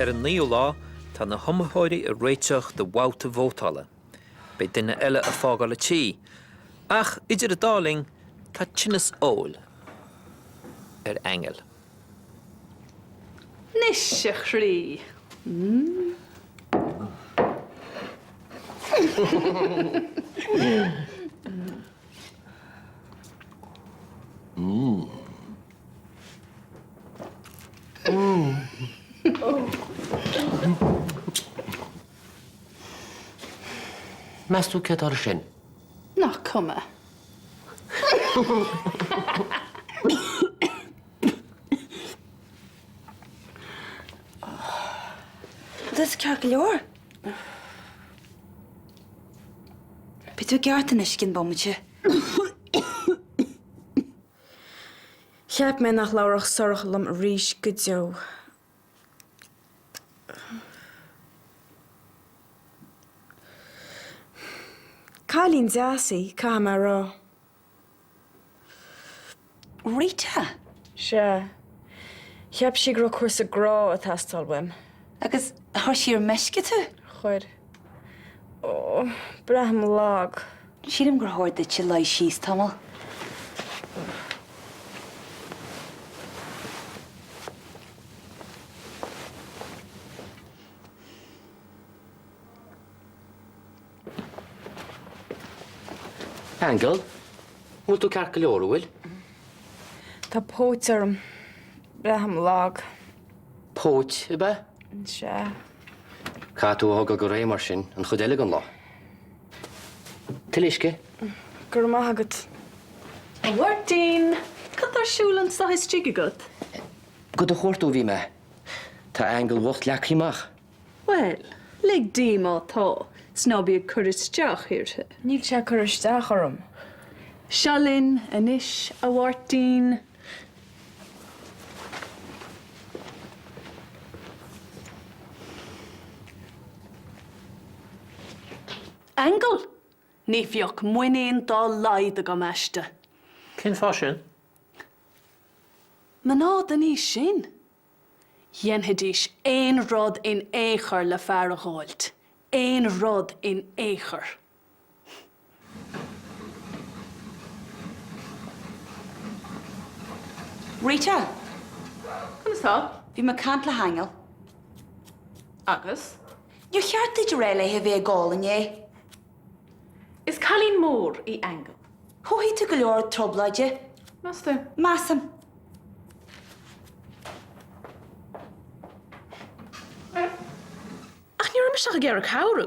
Ar an naoú lá, tá na hiomaitheoirí ag réiteach do bhabhta vótála. Beidh duine eile ag fágáil an tí. Ach idir an dá linn, tá tinneas óil ar Aingeal. Anois, a chroí, Meas tú cé atá ar sin? Nach cuma. Tá sé ceart go leor. Beidh tú i gceart anois, i gcionn bomaite. Cheap mé nach labharfadh Sorcha liom arís go deo. Cailín deas í, caithfidh mé a rá. Rita? Sea. Cheap sí go raibh cúrsa sa ghrá ag teastáil uaim. Agus chuir sí ar meisce tú? Chuir. Ó, braithim lag. Sílim gur chóir duitse luí síos tamall, Aingeal, an bhfuil tú ceart go leor, an bhfuil? Tá póit orm. Braithim lag. Póit, ab ea? Sea. Caithfidh tú a thógáil go réidh mar sin an chuid eile den lá. Tuilleadh uisce? Go raibh maith agat. A Mháirtín! Cad tá ar siúl anso istigh agat? Do do chuartú a bhí mé. Tá Aingeal bhocht leagtha amach. Bhuel, lig di má tá, 's ná bí ag cur isteach uirthi. Níl sí ag cur isteach orm. Seo linn anois, a Mháirtín. Aingeal! Ní bheadh muinín dá laghad agam aisti. Cén fáth sin? Mná den aois sin? Dhéanfaidís aon rud in aon chor le fear a dh'fháilt. Aon rud in aon chor. Rita! Conas tá? Bhí mé ag caint le hAingeal. Agus? Níor cheart duit a rá léi gan a bheith ag gol inné. Is cailín mór í Aingeal. Chothaigh tú go leor trioblóide. Meas tú? Measaim. Ní raibh mise ach ag iarraidh cabhrú.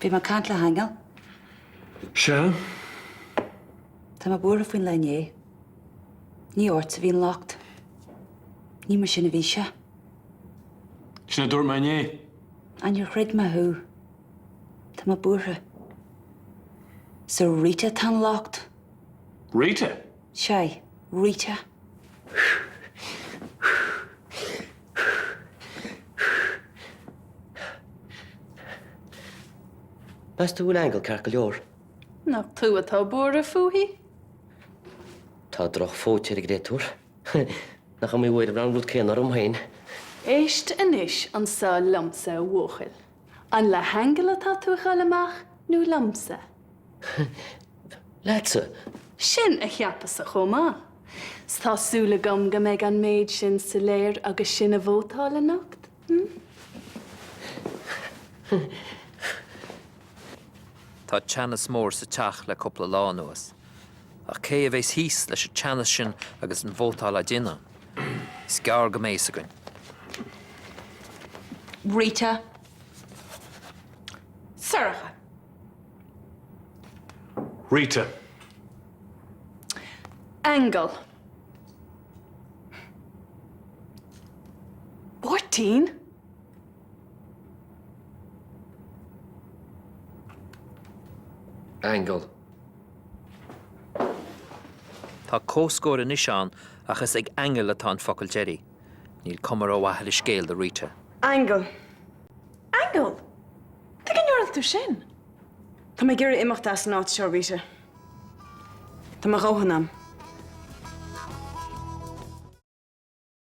Bhí mé ag caint le hAingeal. Sea? Tá mé buartha faoin lá inné. Ní ort a bhí an locht. Ní mar sin a bhí sé. Sin a dúirt mé inné. Á níor chreid mé thú? Tá mé buartha. Is ar Rita atá an locht. Rita? Sea, Rita. Meas tú go bhfuil Aingeal ceart go leor? Nach tú atá buartha fúithi? Tá drochphóit ar an gcréatúr. Nach iomaí uair a bhíonn an rud céanna orm féin. Éist anois anso liomsa, a bhuachaill. An le hAingeal atá tú ag goil amach nó liomsa? leatsa. Sin a cheapas-sa chomh maith. 'S tá súil agam go mbeidh an méid sin soiléir agus sinn ag vótáil anocht, hm? Tá teannas mór sa Teach le cúpla lá anuas. Ach cé a bheas thíos leis an teannas sin agus an vótáil á déanamh? Is gearr go mbeidh fhios againn. Rita. Sorcha. Rita. Aingeal. Máirtín? Aingeal. Tá comhscór anois ann ach is ag Aingeal atá an focal deiridh. Níl cuma rómhaith ar an scéal do Rita. Aingeal. Aingeal! Tuige a ndúirt tú sin? Tá mé ag iarraidh imeacht as an áit seo, Rita. Tá mo dhóthain a'm.